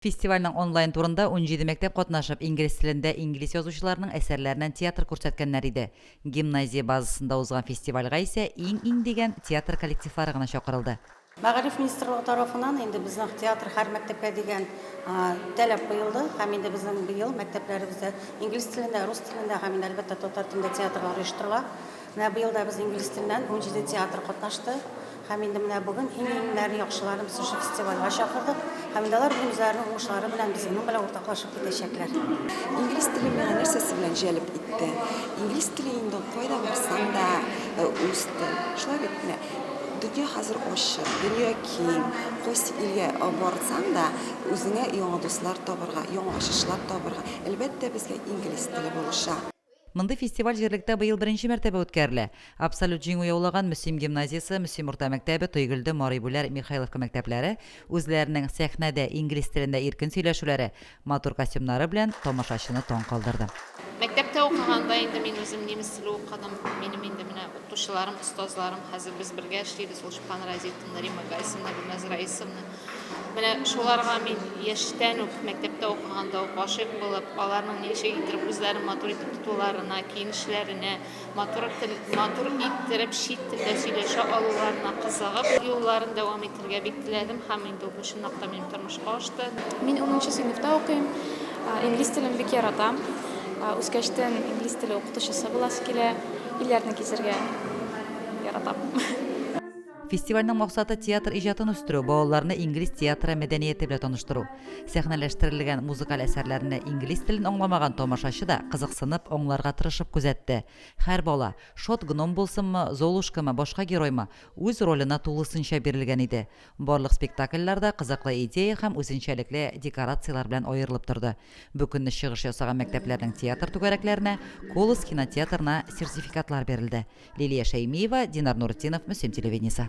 Фестивальнең онлайн турында унҗиде мәктәп катнашып, инглиз телендә инглиз язучыларының әсәрләреннән театр күрсәткәннәр иде. Гимназия базасында узган фестивальгә исә иң-иң дигән театр коллективлары гына чакырылды. Мәгариф министрлыгы тарафыннан инде безнең театр һәр мәктәпкә дигән таләп куелды һәм инде безнең быел мәктәпләребездә инглиз телендә, рус телендә һәм инде, әлбәттә, татар телендә театрлар оештырыла. Менә быел да без инглиз теленнән унҗиде театр катнашты. Һәм инде менә бүген иң-иңнәрен, яхшыларын без шушы фестивальгә чакырдык. Һәм инде алар үзләренең уңышлары белән безнең белән уртаклашып китәчәкләр. Инглиз теле миңа нәрсәсе белән җәлеп итте? Инглиз теле инде кайда барсаң да үз тел. Шулай битме? Дөнья хәзер ачык, дөнья киң. Кайсы илгә барсаң да, үзеңә яңа дуслар табарга, яңа ачышлар табарга, әлбәттә, безгә инглиз теле булыша. Мондый фестиваль җирлектә быел беренче мәртәбә үткәрелә. Абсолют җиңү яулаган Мөслим гимназиясе, Мөслим урта мәктәбе, Тойгелде, Марибүләр, Михайловка мәктәпләре үзләренең сәхнәдә инглиз телендә иркен сөйләшүләре, матур костюмнары белән тамашачыны таң калдырды. Мәктәптә укыганда инде мин үзем немец теле укыдым. Минем инде менә укытучыларым, остазларым, хәзер без бергә эшлибез, Лушпан Разифовна, Римма Гайсовна, Гөлназ Раисовна. Менә шуларга мин яшьтән үк, мәктәптә укыганда ук гашыйк булып, аларның ничек иттереп үзләрен матур итеп тотуларына, киенешләренә, матур тел, матур иттереп чит телдә сөйләшә алуларына кызыгып, юлларын дәвам итергә бик теләдем һәм инде бу чынлап та минем тормышка ашты. Мин унынчы сыйныфта укыйм. Инглиз телен бик яратам. Үскәчтен инглиз теле укытучысы буласы килә. Илләрне гизергә яратам. Фестивальнең максаты театр иҗатын үстерү, балаларны инглиз театры мәдәнияте белән таныштыру. Сәхнәләштерелгән музыкаль әсәрләрне инглиз телен аңламаган тамашачы да кызыксынып, аңларга тырышып күзәтте. Һәр бала, шат гном булсынмы, Золушкамы, башка героймы, үз роленә тулысынча бирелгән иде. Барлык спектакльләр дә кызыклы идея һәм үзенчәлекле декорацияләр белән аерылып торды. Бу көнне чыгыш ясаган мәктәпләрнең театр түгәрәкләренә, Колос кинотеатрына сертификатлар бирелде. Лилия Шәймиева, Динар Нуретдинов, Мөслим телевидениесе.